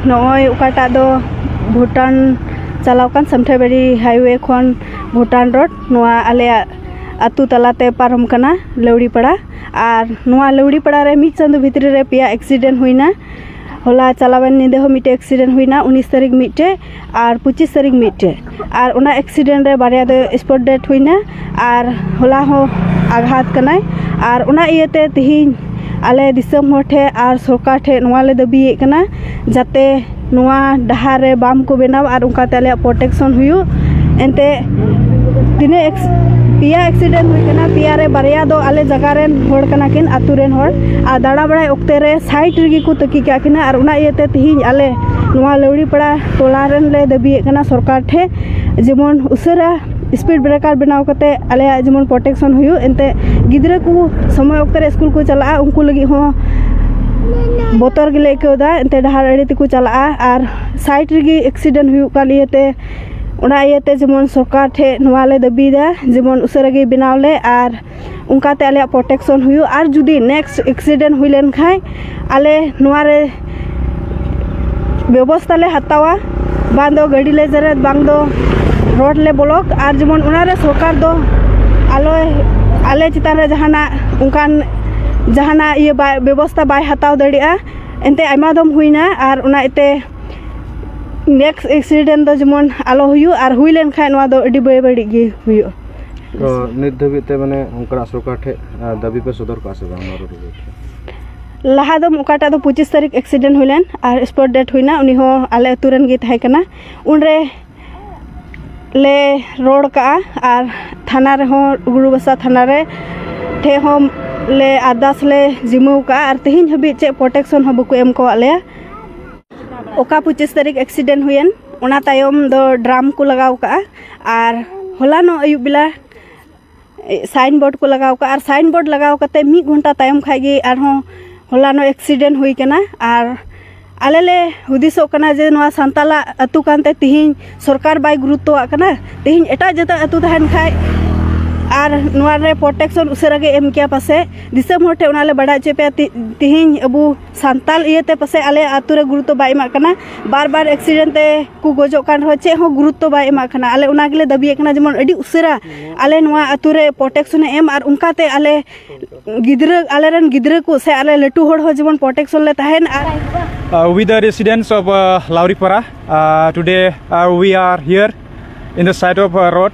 ᱱᱚᱜᱼᱚᱭ ᱚᱠᱟᱴᱟᱜ ᱫᱚ ᱵᱷᱩᱴᱟᱱ ᱪᱟᱞᱟᱣ ᱠᱟᱱ ᱥᱟᱱᱛᱷᱟᱞᱵᱟᱨᱤ ᱦᱟᱭᱚᱭᱮ ᱠᱷᱚᱱ ᱵᱷᱩᱴᱟᱱ ᱨᱳᱰ ᱱᱚᱣᱟ ᱟᱞᱮᱭᱟᱜ ᱟᱹᱛᱩ ᱛᱟᱞᱟᱛᱮ ᱯᱟᱨᱚᱢ ᱠᱟᱱᱟ ᱞᱟᱹᱣᱲᱤ ᱯᱟᱲᱟ ᱟᱨ ᱱᱚᱣᱟ ᱞᱟᱹᱣᱲᱤ ᱯᱟᱲᱟ ᱨᱮ ᱢᱤᱫ ᱪᱟᱸᱫᱚ ᱵᱷᱤᱛᱨᱤ ᱨᱮ ᱯᱮᱭᱟ ᱮᱠᱥᱤᱰᱮᱱᱴ ᱦᱩᱭᱱᱟ ᱦᱚᱞᱟ ᱪᱟᱞᱟᱣᱮᱱ ᱧᱤᱫᱟᱹ ᱦᱚᱸ ᱢᱤᱫᱴᱮᱱ ᱮᱠᱥᱤᱰᱮᱱᱴ ᱦᱩᱭᱱᱟ ᱩᱱᱤᱥ ᱛᱟᱹᱨᱤᱠᱷ ᱢᱤᱫᱴᱮᱱ ᱟᱨ ᱯᱚᱸᱪᱤᱥ ᱛᱟᱹᱨᱤᱠᱷ ᱢᱤᱫᱴᱮᱡ ᱟᱨ ᱚᱱᱟ ᱮᱠᱥᱤᱰᱮᱱᱴ ᱨᱮ ᱵᱟᱨᱭᱟ ᱫᱚ ᱥᱯᱚᱴ ᱰᱮᱛᱷ ᱦᱩᱭᱱᱟ ᱟᱨ ᱦᱚᱞᱟ ᱦᱚᱸ ᱟᱜᱷᱟᱛ ᱠᱟᱱᱟᱭ ᱟᱨ ᱚᱱᱟ ᱤᱭᱟᱹᱛᱮ ᱛᱮᱦᱮᱧ ᱟᱞᱮ ᱫᱤᱥᱚᱢ ᱦᱚᱲ ᱴᱷᱮᱡ ᱟᱨ ᱥᱚᱨᱠᱟᱨ ᱴᱷᱮᱡ ᱱᱚᱣᱟ ᱞᱮ ᱫᱟᱹᱵᱤᱭᱮᱫ ᱠᱟᱱᱟ ᱡᱟᱛᱮ ᱱᱚᱣᱟ ᱰᱟᱦᱟᱨ ᱨᱮ ᱵᱟᱢ ᱠᱚ ᱵᱮᱱᱟᱣ ᱟᱨ ᱚᱱᱠᱟᱛᱮ ᱟᱞᱮᱭᱟᱜ ᱯᱨᱳᱴᱮᱠᱥᱚᱱ ᱦᱩᱭᱩᱜ ᱮᱱᱛᱮᱜ ᱛᱤᱱᱟᱹᱜ ᱯᱮᱭᱟ ᱮᱠᱥᱤᱰᱮᱱᱴ ᱦᱩᱭ ᱠᱟᱱᱟ ᱯᱮᱭᱟ ᱨᱮ ᱵᱟᱨᱭᱟ ᱫᱚ ᱟᱞᱮ ᱡᱟᱭᱜᱟ ᱨᱮᱱ ᱦᱚᱲ ᱠᱟᱱᱟ ᱠᱤᱱ ᱟᱛᱳ ᱨᱮᱱ ᱦᱚᱲ ᱟᱨ ᱫᱟᱬᱟ ᱵᱟᱲᱟᱭ ᱚᱠᱛᱮ ᱨᱮ ᱥᱟᱭᱤᱰ ᱨᱮᱜᱮ ᱠᱚ ᱛᱟᱹᱠᱤᱡ ᱠᱟᱜ ᱠᱤᱱᱟ ᱟᱨ ᱚᱱᱟ ᱤᱭᱟᱹᱛᱮ ᱛᱮᱦᱮᱧ ᱟᱞᱮ ᱱᱚᱣᱟ ᱞᱟᱹᱣᱲᱤ ᱯᱟᱲᱟ ᱴᱚᱞᱟ ᱨᱮᱱ ᱞᱮ ᱫᱟᱹᱵᱤᱭᱮᱫ ᱠᱟᱱᱟ ᱥᱚᱨᱠᱟᱨ ᱴᱷᱮᱡ ᱡᱮᱢᱚᱱ ᱩᱥᱟᱹᱨᱟ ᱤᱥᱯᱤᱰ ᱵᱨᱮᱠᱟᱨ ᱵᱮᱱᱟᱣ ᱠᱟᱛᱮ ᱟᱞᱮᱭᱟᱜ ᱡᱮᱢᱚᱱ ᱯᱨᱳᱴᱮᱠᱥᱮᱱ ᱦᱩᱭᱩᱜ ᱮᱱᱛᱮ ᱜᱤᱫᱽᱨᱟᱹ ᱠᱚ ᱥᱚᱢᱚᱭ ᱚᱠᱛᱮ ᱨᱮ ᱤᱥᱠᱩᱞ ᱠᱚ ᱪᱟᱞᱟᱜᱼᱟ ᱩᱱᱠᱩ ᱞᱟᱹᱜᱤᱫ ᱦᱚᱸ ᱵᱚᱛᱚᱨ ᱜᱮᱞᱮ ᱟᱹᱭᱠᱟᱹᱣᱫᱟ ᱮᱱᱛᱮ ᱰᱟᱦᱟᱨ ᱟᱲᱮ ᱛᱮᱠᱚ ᱪᱟᱞᱟᱜᱼᱟ ᱟᱨ ᱥᱟᱭᱤᱰ ᱨᱮᱜᱮ ᱮᱠᱥᱤᱰᱮᱱ ᱦᱩᱭᱩᱜ ᱠᱟᱱ ᱤᱭᱟᱹᱛᱮ ᱚᱱᱟ ᱤᱭᱟᱹᱛᱮ ᱡᱮᱢᱚᱱ ᱥᱚᱨᱠᱟᱨ ᱴᱷᱮᱡ ᱱᱚᱣᱟᱞᱮ ᱫᱟᱹᱵᱤᱭᱮᱫᱟ ᱡᱮᱢᱚᱱ ᱩᱥᱟᱹᱨᱟ ᱜᱮᱭ ᱵᱮᱱᱟᱣ ᱞᱮ ᱟᱨ ᱚᱱᱠᱟᱛᱮ ᱟᱞᱮᱭᱟᱜ ᱯᱨᱳᱴᱮᱠᱥᱚᱱ ᱦᱩᱭᱩᱜ ᱟᱨ ᱡᱩᱫᱤ ᱱᱮᱠᱥᱴ ᱮᱠᱥᱤᱰᱮᱱᱴ ᱦᱩᱭ ᱞᱮᱱ ᱠᱷᱟᱡ ᱟᱞᱮ ᱱᱚᱣᱟ ᱨᱮ ᱵᱮᱵᱚᱥᱛᱟ ᱞᱮ ᱦᱟᱛᱟᱣᱟ ᱵᱟᱝ ᱫᱚ ᱜᱟᱹᱰᱤ ᱞᱮ ᱡᱮᱨᱮᱫ ᱵᱟᱝ ᱫᱚ ᱨᱳᱰ ᱞᱮ ᱵᱚᱞᱚᱠ ᱟᱨ ᱡᱮᱢᱚᱱ ᱚᱱᱟ ᱨᱮ ᱥᱚᱨᱠᱟᱨ ᱫᱚ ᱟᱞᱚᱭ ᱟᱞᱮ ᱪᱮᱛᱟᱱ ᱨᱮ ᱡᱟᱦᱟᱱᱟᱜ ᱚᱱᱠᱟᱱ ᱡᱟᱦᱟᱱᱟᱜ ᱤᱭᱟᱹ ᱵᱟᱭ ᱵᱮᱵᱚᱥᱛᱟ ᱵᱟᱭ ᱦᱟᱛᱟᱣ ᱫᱟᱲᱮᱭᱟᱜᱼᱟ ᱮᱱᱛᱮᱫ ᱟᱭᱢᱟ ᱫᱚᱢ ᱦᱩᱭᱱᱟ ᱟᱨ ᱚᱱᱟ ᱤᱭᱟᱹᱛᱮ ᱱᱮᱠᱥᱴ ᱮᱠᱥᱤᱰᱮᱱᱴ ᱫᱚ ᱡᱮᱢᱚᱱ ᱟᱞᱚ ᱦᱩᱭᱩᱜ ᱟᱨ ᱦᱩᱭ ᱞᱮᱱ ᱠᱷᱟᱡ ᱱᱚᱣᱟ ᱫᱚ ᱟᱹᱰᱤ ᱵᱮᱼᱵᱟᱹᱲᱤᱡ ᱜᱮ ᱦᱩᱭᱩᱜᱼᱟ ᱛᱚ ᱱᱤᱛ ᱫᱷᱟᱹᱵᱤᱡ ᱛᱮ ᱢᱟᱱᱮ ᱚᱱᱠᱟᱱᱟᱜ ᱥᱚᱨᱠᱟᱨ ᱴᱷᱮᱡ ᱫᱟᱹᱵᱤ ᱯᱮ ᱥᱚᱫᱚᱨ ᱠᱟᱜᱼᱟ ᱥᱮ ᱵᱟᱝ ᱞᱟᱦᱟ ᱫᱚ ᱚᱠᱟᱴᱟᱜ ᱫᱚ ᱯᱚᱸᱪᱤᱥ ᱛᱟᱹᱨᱤᱠᱷ ᱮᱠᱥᱤᱰᱮᱱᱴ ᱦᱩᱭ ᱞᱮᱱ ᱟᱨ ᱥᱯᱚᱴ ᱰᱮᱛᱷ ᱦᱩᱭᱱᱟ ᱩᱱᱤ ᱦᱚᱸ ᱟᱞᱮ ᱟᱹᱛᱩ ᱨᱮᱱ ᱜᱮ ᱛᱟᱦᱮᱸ ᱠᱟᱱᱟ ᱩᱱᱨᱮ ᱞᱮ ᱨᱚᱲ ᱠᱟᱜᱼᱟ ᱟᱨ ᱛᱷᱟᱱᱟ ᱨᱮᱦᱚᱸ ᱜᱩᱨᱩᱵᱟᱥᱟ ᱛᱷᱟᱱᱟ ᱨᱮ ᱴᱷᱮᱡ ᱦᱚᱸ ᱞᱮ ᱟᱨᱫᱟᱥ ᱞᱮ ᱡᱤᱢᱟᱹᱣ ᱠᱟᱜᱼᱟ ᱟᱨ ᱛᱮᱦᱮᱧ ᱦᱟᱹᱵᱤᱡ ᱪᱮᱫ ᱯᱨᱚᱴᱮᱠᱥᱚᱱ ᱦᱚᱸ ᱵᱟᱠᱚ ᱮᱢ ᱠᱟᱣᱟᱫ ᱞᱮᱭᱟ ᱚᱠᱟ ᱯᱚᱸᱪᱤᱥ ᱛᱟᱹᱨᱤᱠᱷ ᱮᱠᱥᱤᱰᱮᱱᱴ ᱦᱩᱭᱮᱱ ᱚᱱᱟ ᱛᱟᱭᱚᱢ ᱫᱚ ᱰᱨᱟᱢ ᱠᱚ ᱞᱟᱜᱟᱣ ᱠᱟᱜᱼᱟ ᱟᱨ ᱦᱚᱞᱟᱱᱚᱜ ᱟᱹᱭᱩᱵ ᱵᱮᱞᱟ ᱥᱟᱭᱤᱱ ᱵᱳᱨᱰ ᱠᱚ ᱞᱟᱜᱟᱣ ᱠᱟᱜᱼᱟ ᱟᱨ ᱥᱟᱭᱤᱱ ᱵᱳᱨᱰ ᱞᱟᱜᱟᱣ ᱠᱟᱛᱮ ᱢᱤᱫ ᱜᱷᱚᱱᱴᱟ ᱛᱟᱭᱚᱢ ᱠᱷᱟᱡ ᱜᱮ ᱟᱨᱦᱚᱸ ᱦᱚᱞᱟᱱᱚᱜ ᱮᱠᱥᱤᱰᱮᱱᱴ ᱦᱩᱭ ᱠᱟᱱᱟ ᱟᱨ ᱟᱞᱮ ᱞᱮ ᱦᱩᱫᱤᱥᱚᱜ ᱠᱟᱱᱟ ᱡᱮ ᱱᱚᱣᱟ ᱥᱟᱱᱛᱟᱞᱟᱜ ᱟᱹᱛᱩ ᱠᱟᱱᱛᱮ ᱛᱤᱦᱤᱧ ᱥᱚᱨᱠᱟᱨ ᱵᱟᱭ ᱜᱩᱨᱩᱛᱛᱚᱣᱟᱜ ᱠᱟᱱᱟ ᱛᱤᱦᱤᱧ ᱮᱴᱟᱜ ᱡᱟᱹᱛᱟᱜ ᱟᱹᱛᱩ ᱛᱟᱦᱮᱱ ᱠᱷᱟᱡ ᱟᱨ ᱱᱚᱣᱟ ᱨᱮ ᱯᱨᱚᱴᱮᱠᱥᱚᱱ ᱩᱥᱟᱹᱨᱟ ᱜᱮ ᱮᱢ ᱠᱮᱭᱟ ᱯᱟᱥᱮᱡ ᱫᱤᱥᱚᱢ ᱦᱚᱲ ᱴᱷᱮᱡ ᱚᱱᱟ ᱞᱮ ᱵᱟᱰᱟᱭ ᱦᱚᱪᱚᱭ ᱯᱮᱭᱟ ᱛᱤᱦᱤᱧ ᱟᱵᱚ ᱥᱟᱱᱛᱟᱞ ᱤᱭᱟᱹᱛᱮ ᱯᱟᱥᱮᱡ ᱟᱞᱮ ᱟᱹᱛᱩ ᱨᱮ ᱜᱩᱨᱩᱛᱛᱚ ᱵᱟᱭ ᱮᱢᱟᱜ ᱠᱟᱱᱟ ᱵᱟᱨ ᱵᱟᱨ ᱮᱠᱥᱤᱰᱮᱱᱴ ᱛᱮ ᱠᱚ ᱜᱚᱡᱚᱜ ᱠᱟᱱ ᱨᱮᱦᱚᱸ ᱪᱮᱫ ᱦᱚᱸ ᱜᱩᱨᱩᱛᱛᱚ ᱵᱟᱭ ᱮᱢᱟᱜ ᱠᱟᱱᱟ ᱟᱞᱮ ᱚᱱᱟ ᱜᱮᱞᱮ ᱫᱟᱹᱵᱤᱭᱮᱫ ᱠᱟᱱᱟ ᱡᱮᱢᱚᱱ ᱟᱹᱰᱤ ᱩᱥᱟᱹᱨᱟ ᱟᱞᱮ ᱱᱚᱣᱟ ᱟᱛᱳ ᱨᱮ ᱯᱨᱳᱴᱮᱠᱥᱚᱱᱮ ᱮᱢ ᱟᱨ ᱚᱱᱠᱟ ᱛᱮ ᱟᱞᱮ ᱜᱤᱫᱽᱨᱟᱹ ᱟᱞᱮ ᱨᱮᱱ ᱜᱤᱫᱽᱨᱟᱹ ᱠᱚ ᱥᱮ ᱟᱞᱮ ᱞᱟᱹᱴᱩ ᱦᱚᱲ ᱦᱚᱸ ᱡᱮᱢᱚᱱ ᱯᱨᱳᱴᱮᱠᱥᱚᱱ ᱞᱮ ᱛᱟᱦᱮᱱ ᱟᱨ Uh, with the residents of uh, Lauripara, uh, today uh, we are here in the side of uh, road